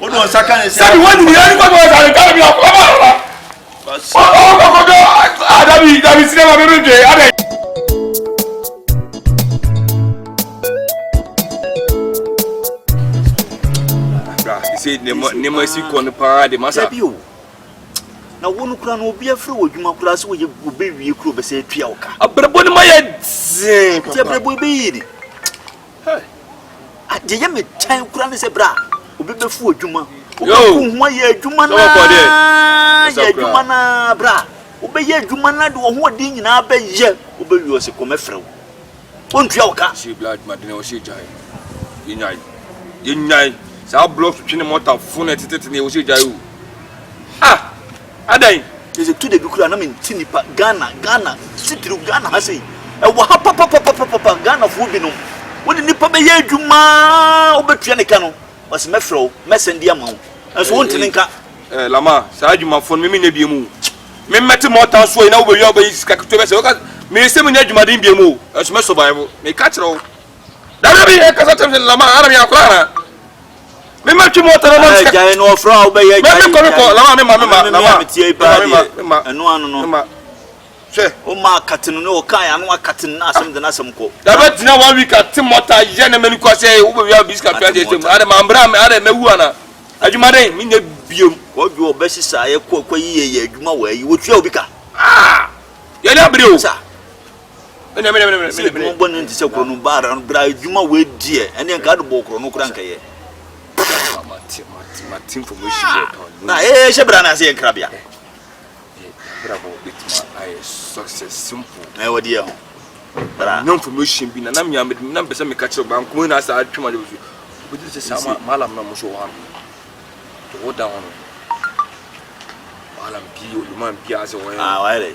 Wode wɔn nsa ka ne sɛ. Sɛbi wɔn nyinaa nipa bɔ ɛsɛ ɛka bi akɔ ma ma. Wɔkɔ wɔkɔ kɔjɔ adabi dabi sinima bɛbi dwe adɛ. Sɛ nneɛma si kɔ no paa de masa. Dabi o na wo no kura no obi afiri wɔ adwuma kura sɛ wɔyɛ wɔbɛwie kuro bɛsɛ atua wo ka. Abrɛbɔ no ma yɛ dzee. Nti abrɛbɔ bɛyi ni. Hey! Ah, deɛ yɛ me kyɛn kura ne sɛ bra obi bɛfu adwuma wobɛku ho ayɛ adwuma no yɛ adwuma no bra wobɛyɛ adwuma no de wɔ ho ɔden nyinaa bɛyɛ wobɛwie ɔse kɔm ɛfrɛ wo ɔntua wo ka yɛnyae saa blocks twene mɔta fone tete ne ɛwɔ sɛ gyae o ah Adɛn? Ɛsɛ tu dabi koraa na me nte nipa Ghana Ghana titiriw Ghana ha sei ɛwɔ ha papapapapapa Ghana foɔ bi nom wo ne nipa bɛyɛ adwuma wo bɛtua ne ka no ɔse mɛfrɛ wo mɛ sɛn di ama wo nso wo nte ne nka. Eh lama saa adwuma foɔ no me me nyɛ biemu o me mɛ te mɔta soɔ yi na wo bɛ wia wo bɛ yi sika ketewa bɛ sɛ woka me sɛ me nyɛ adwuma den biemu o ɛnso mɛ survive me ka kyerɛ wo dabi dabi ɛkasa kyerɛ me sɛ lama ara me akora anaa. Me ma twi mu ɔtɔ na ma sika. Gyae no ɔfrɛ a wobɛyɛ gyae. Me kɔ me kɔ na ma me ma me ma na ma. Me tie paa deɛ. Me ma. Ɛno ano no. Me ma. Hwɛ. O ma akate no ne ɔka yɛ ano akate no na asɛm de n'asɛm kɔ. Yabɛ gyina one week ate mɔta yɛ ne mɛni kɔ sɛ wo bɛ wia bi sika pia deɛ sɛ mu. Ade ma mbra me ade mɛ wu ana. Adwuma dɛ me nyɛ biem. Kwadwo ɔbɛ sisa yɛ kɔ kɔ yi yɛ yɛ adwuma wɔ ayi wɔ tua obi ka. Ah! Yɛ ni abere o. Sa. Sɛ edwuma bɔ no nti sɛ korɔ no baara no bra edwuma wei deɛ ɛne nka ade bɔ korɔ no kora nka yɛ. Na ee hyɛ bra na ase yɛ nkra bia. Na ɛwɔ deɛ ho. Bra. No information bi na na mia mede na mpɛsɛ meka kyerɛ ba nko na asa atwema de bi. Obi de sɛ sa ma malam na mo so wɔ ha no. To wo da ho no. Malam bi oluman bi ase wɔ. Ah, why?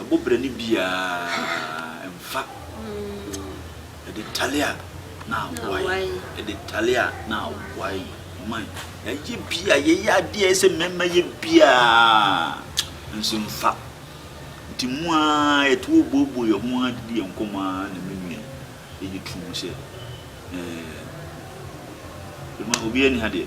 Ɛbɔ bra no biaa mfa Ɛde tale a na awae Ɛde tale a na awae Man yɛayɛ biaa yɛyɛ adeɛ a ɛsɛ mɛma yɛ biaa Nso mfa Nti mu aa yɛto hɔ booboo yɛ ho aa didi yɛ nkɔmɔ aa na me nua yi Ɛyɛ true sɛ ɛɛ Obiaa ni ha deɛ.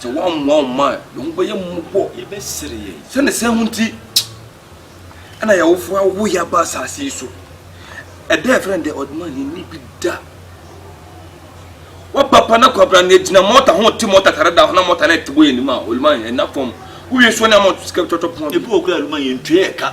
Sɛ wɔammoa wo mma a, yɛn ho bɛyɛ mmɔbɔ, yɛbɛsere yɛn. Sɛ ne saa ho nti na yɛn awofo awo yɛn aba asase yi so. Ɛda a yɛfrɛ no The Ordinary yɛn ani bi da. Waba pa na kwabra na yɛgyina mɔta ho te mɔta tare da ho na mɔta no ɛte bɔ yɛn anim a, oluman yɛn nna fam. Wowie so ne ama ɔto sika twɔtwɔ pɔn. Ebi wɔ hɔ koraa a oluman yɛntua yɛn ka.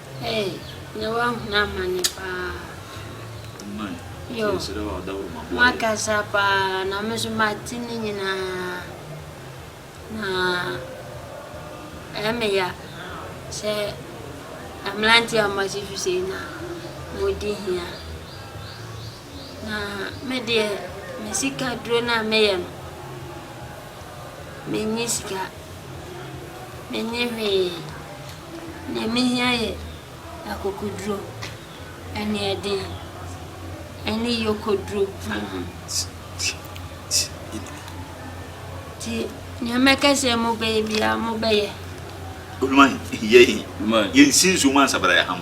Hey na wahunu amane paa yoo makasa paa na me nso mate ne nyinaa na ɛyɛ me ya sɛ mmeranteɛ a wɔasi so sei na wɔdi hia na me deɛ me sika duro no a meyɛ no menni sika menni hwee. Nea mehia yɛ akokoduro, aniɛden, ne yokoduro. Nti nea mɛka sɛ mobɛyɛ biara mobɛyɛ. Odwan, Yei, yɛnsi nsuo mu ansa bra yɛaham.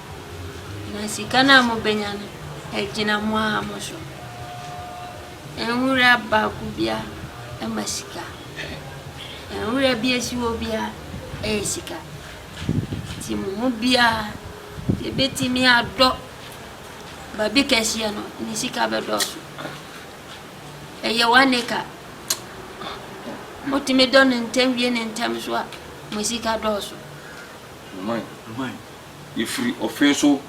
Na sika no a mobɛnya no, ɛgyina mo ara mo so. Nwura baako biara ma sika. Nwura bi asi hɔ biara ɛyɛ sika. Nti mo mu biara, deɛ ɛbɛtumi adɔ baabi kɛseɛ no, ne sika bɛdɔɔso. Ɛyɛ one acre. Motumi dɔ no ntɛm wie no ntɛm nso a, mo sika dɔɔso. Yɛfiri ɔfee so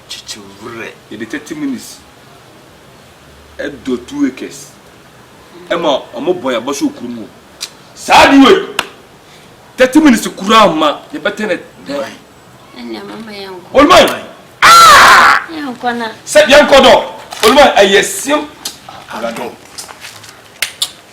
kyekyewrɛ. Yɛde thirty minutes dɔ two acres. Ɛma ɔmo bɔ yɛn abɔso wɔ kurom hɔ. Saa ade wei thirty minutes koraa mma yɛbɛtɛ ne dan. Ɛnna mama yɛn kɔ. Olumai aa. Yɛn kɔ na. Sɛ yɛn kɔ dɔ Olumai ɛyɛ sim. Aladɔn.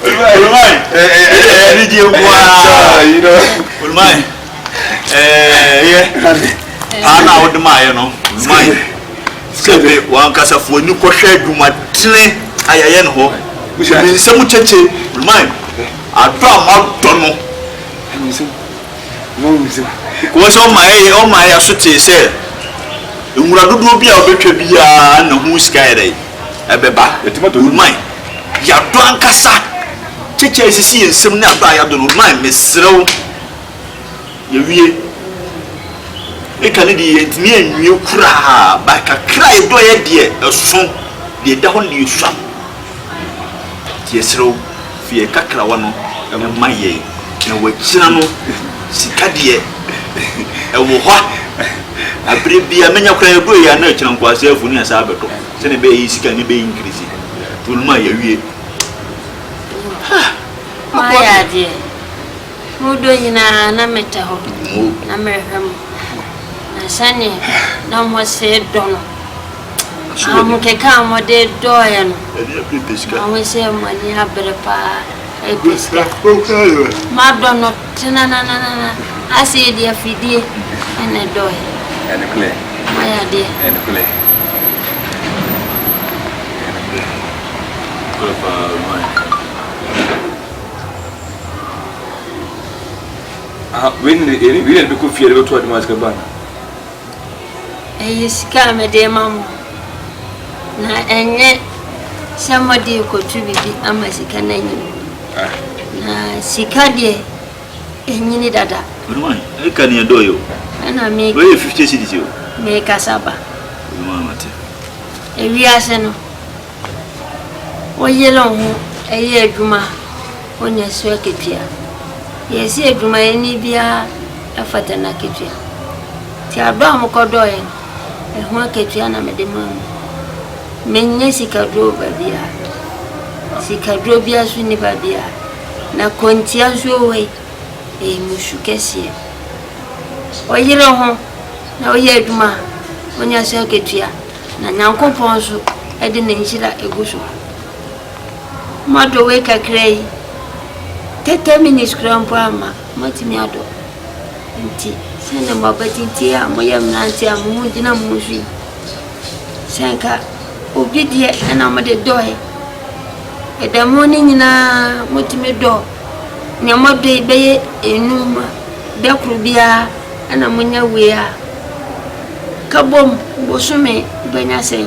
Olumai, anigye nko ara. Olumai, ɛyɛ paa na wode maayɛ no. Olumai, sɛbe wankasa fo ani kɔhwɛ adwumatene a yɛyɛ no hɔ. Ɛmi nsɛm kyekye. Olumai, adɔ a madɔ no. Kɔɔ sɛ ɔma yɛyɛ ɔma yɛ so tee sɛ nwura dodoɔ bi a wobɛtwa biara na ho sika yɛ dɛ. ɛbɛba. Yɛatumi adɔ no man. Yɛadɔ ankasa. Kyekyɛ a esisi yɛn nsam ne adɔ a yɛadɔ no man. Mesrɛ wo, yɛawie. Eka no deɛ, yɛantumi anwie koraa, but kakra a yɛdɔeɛ deɛ, ɛso. Deɛ ɛda hɔ no deɛ, ɛsua. Nti yɛsrɛ wo. Fi yɛn kakrawa no mu ma yɛn, na wakyina no sika deɛ ɛwɔ hɔ a bere bia menya koraa yɛdɔ yɛ a na akyina nkwaseafo ni asaa bɛdɔ sɛnea ɛbɛyɛ yɛ sika ne bɛyɛ nkirisi to no mu a yɛawie ha moayɛ adeɛ modɔ nyinaa na metɛ hɔ na merehwɛ mo na sɛneɛ na mo see dɔ no Ahokeka a wɔde dɔɔɛ no, mahu sɛ mo ani abere paa, ɛpɛ sika. Madɔ no tenananana, asei deɛ afidie na ɛdɔɔɛ. Moayɛ adeɛ. Ɛyɛ sika a mede rema mo, na ɛnyɛ sɛ mode rekɔtu biribi ama sika no anyin. Ah. Na sika deɛ, ɛnyini dada. Mewan, ɛka ni ɛdɔ yi o. Ɛna me. Wɔyɛ 50 cities o. Mekasa ba. Mewan mate. Ewiase no, woyere wo ho ɛyɛ adwuma. Ɔnya so akatua. Yɛse adwumayɛni biara fata n'akatua. Nti adɔ a mokɔdɔɔeɛ no, ɛho akatua na mede maa mo. Mennya sikaduro wɔ baabiara. Sikaduro biara nso nni baabiara. Na kɔntia nso wɔ hɔ yi, ɛyɛ mo su kɛseɛ. Ɔyere ho na ɔyɛ adwuma a, ɔnya so akatua. Na Nyankopɔn nso de ne nhyira gu so. Moadɔ wei kakra yi, thirty minutes koraa mpo amma, moatumi adɔ. Nti, sɛnea mo abatintie a moyɛ mmerante a mo ho gyina mo ho so yi, sɛ nka obi deɛ ɛna mode dɔɔe. Ɛda mu no nyinaa motumi dɔ nea moadɔ yi bɛyɛ enum a, da koro biara ɛna monya wei a, ka bom bosome bɛnya sɛn?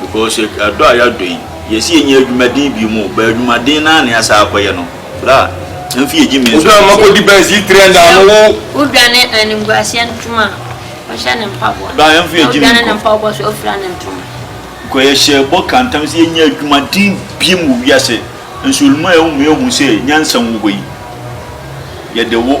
Because yɛ adɔ a yadɔ yi yɛ si yɛ nyɛ adwuma den bio mu but adwuma den naa na yasa akɔ yɛ no bra ɛnfi yɛ gyi me nso tum sɛ. Mesrɛ wo, wo dwane animguaseɛ ntoma a ɔhyɛ ne mpaboa, na wodwane ne mpaboa so ofira ne ntoma. Because yɛ hyɛ bɔ ka ntam sɛ yɛ nyɛ adwuma den biom wɔ wiase nso ɔlum a ɛwɔ mu yɛ hu sɛ nyansa wɔ hɔ yi yɛde wo.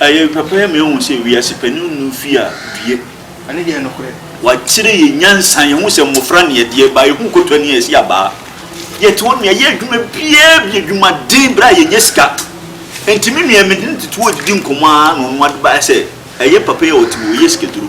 Ɛyɛ papa ma yɛhu sɛ wiase panin nnum fie a due. Ɛno yɛ nokorɛ. Wɔakyerɛ yɛn nyansa, yɛhu sɛ mmofra ne ɛdeɛ baa, yɛhu kotoa ne ɛse abaa. Yɛte hɔ nom, yɛyɛ adwuma biara bi, adwumaden, berɛ a yɛnnya sika. Enti me nua, mede ne tete wɔ didi nkɔmmɔ ara na ɔno ade baeɛ sɛ, ɛyɛ papa yi a ɔte hɔ yi, ɔyɛ sikaduro.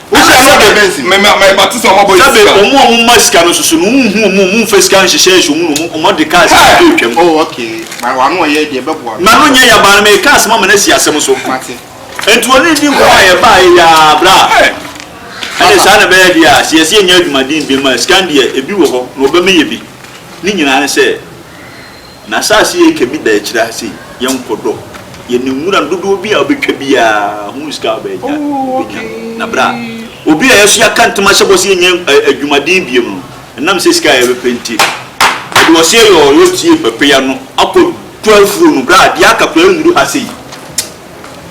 Wohyɛ no dɛ bɛn ntsi? Sɛbe ɔmo a ɔmo ma sika no soso no, wo nnhu ɔmo, ɔmo mmfa sika nnhyehyɛ ahyɛ ɔmo no mu, ɔmo de kaa sika no bɛtwa mu. M'ano nyɛ ya baa no, meekaa asɛm ama no asi asɛm so. Ntsi ɔne no dii nkɔmbɔ a yɛbaa eyiaa bra a, ɛne saa na ɛbɛyɛ deɛ a, sɛ yɛse yɛnyɛ adwumaden biom a, sika no deɛ, ebi wɔ hɔ, na ɔbɛma yɛ bi. Ne nyinaa ne sɛ, N'asaase yɛ kɛmi da akyire ha sei, yɛnkɔ dɔ yɛ ne nwura no dodoɔ bi a wobɛtwa biara hunu sika a wobɛnya, wobɛnya no. Na berɛ a obi a yɛso yɛaka ntam ahyɛ bɔ sɛ yɛnyɛ adwumaden biom no, ɛnam sɛ sika a yɛbɛpɛ nti, yɛde ɔseɛ yɔɔyɔ tie pɛpɛya no akɔ twa afuo no berɛ a deɛ aka koraa nnuru ha sei.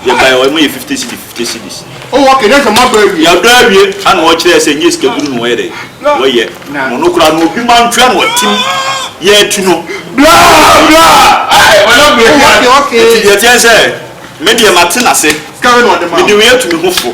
Yɛ bae ɔyɛ mo yɛ fifty cedi fifty cedis. Oh okay na sɛ mo adɔ awie. Yɛ adɔ awie ana ɔkyerɛ sɛ nyɛ sika duru na ɔyɛ dɛ ɔyɛ na ɔno koraa no obi ma ntua na ɔtim yɛ atu no bla bla ai ɔyɛ bla bla eti deɛ teɛ sɛ me deɛ ma te na se me de wei atu me ho fo.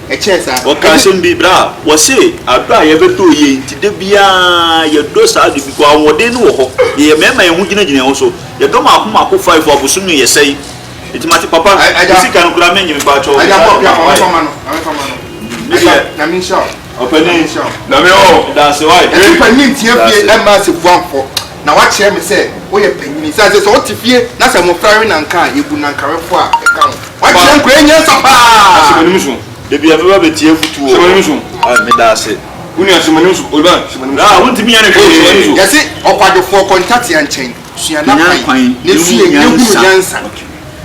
Ɛkyɛɛ saa. Wɔkaa asɛm bi berɛ a wɔse adɔ a yɛbɛdɔ yei nti da biara yɛdɔ saa ade bi, ahoɔden no wɔ hɔ, yɛyɛ mmarima a yɛn ho gyinagyina yɛn ho so, yɛdɔ mako mako five a bosome yɛsɛe nti mate papa wo sika no koraa mennye mepakyɛw me saa de ma wai me deɛ ɔpanin Nyame ɔɔ ɛdaase wai daase. na wakyerɛ me sɛ woyɛ panyin esiane sɛ sɛ wote fie na sɛ mmofra we nanka a yebu nanka wefo a ɛka ho. Wakyerɛ nkoa yi nyansa paa. Da biara mɛba abetie afotu wɔ hɔ. Ah, meda ase. Wo nua, hyɛ m'anim so. Oliver, hyɛ m'anim so. Ah, wontumi nyɛ no hwee, hyɛ m'anim so. Yɛse ɔkwadwofoɔ kɔ ntatea nkyɛn, sua n'akwan, na sue, na hunu nyansa.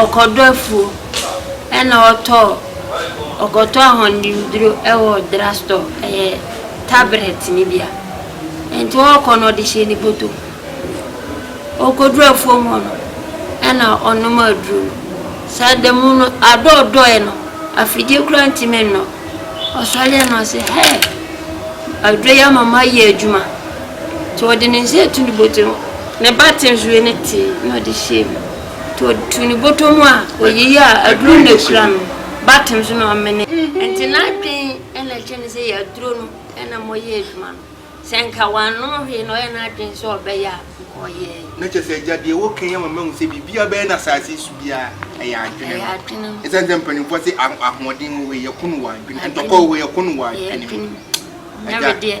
ɔkɔdɔ afuo ɛna ɔtɔɔ ɔkɔtɔ ahɔndemduro ɛwɔ drugstore ɛyɛ tablet ne bia nti ɔkɔ no ɔde hyɛ ne bɔtɔ mu ɔkɔduru afuo mu hɔ no ɛna ɔnom aduro no sɛ adamu no adɔ ɔdɔɛ no afidie kura ntimi nnɔ ɔsɔre ɛna ɔsɛ hɛɛ aduro yi ama mayɛ adwuma Nti ɔde ne nsa atu ne bɔtɔm, ne ba te nso yɛ ne tee na ɔde hyɛɛ mu. Nti ɔtuu ne bɔtɔ mu a ɔyeyɛ a aduro na ɛkura no ba tem so na ɔmene. Nti n'adwene na ɛkyerɛ no sɛ yɛ aduro no na ma ɔyɛ adwuma no. Sɛ nka wannom hwee na ɔyɛ n'adwene sɛ ɔbɛyɛ a nka ɔyɛɛ. Na kyerɛ sɛ agya deɛ woka yi ama mahu sɛ biribiara bɛyɛ no asase yi so biara ɛyɛ adwene no. Ɛsiane sɛ mpanimfoɔ se ahoɔden wɔ hɔ yi, ɛko no wɔ adwene, ntɔkwa wɔ hɔ yi, ɛko no wɔ adwene mu. Agya,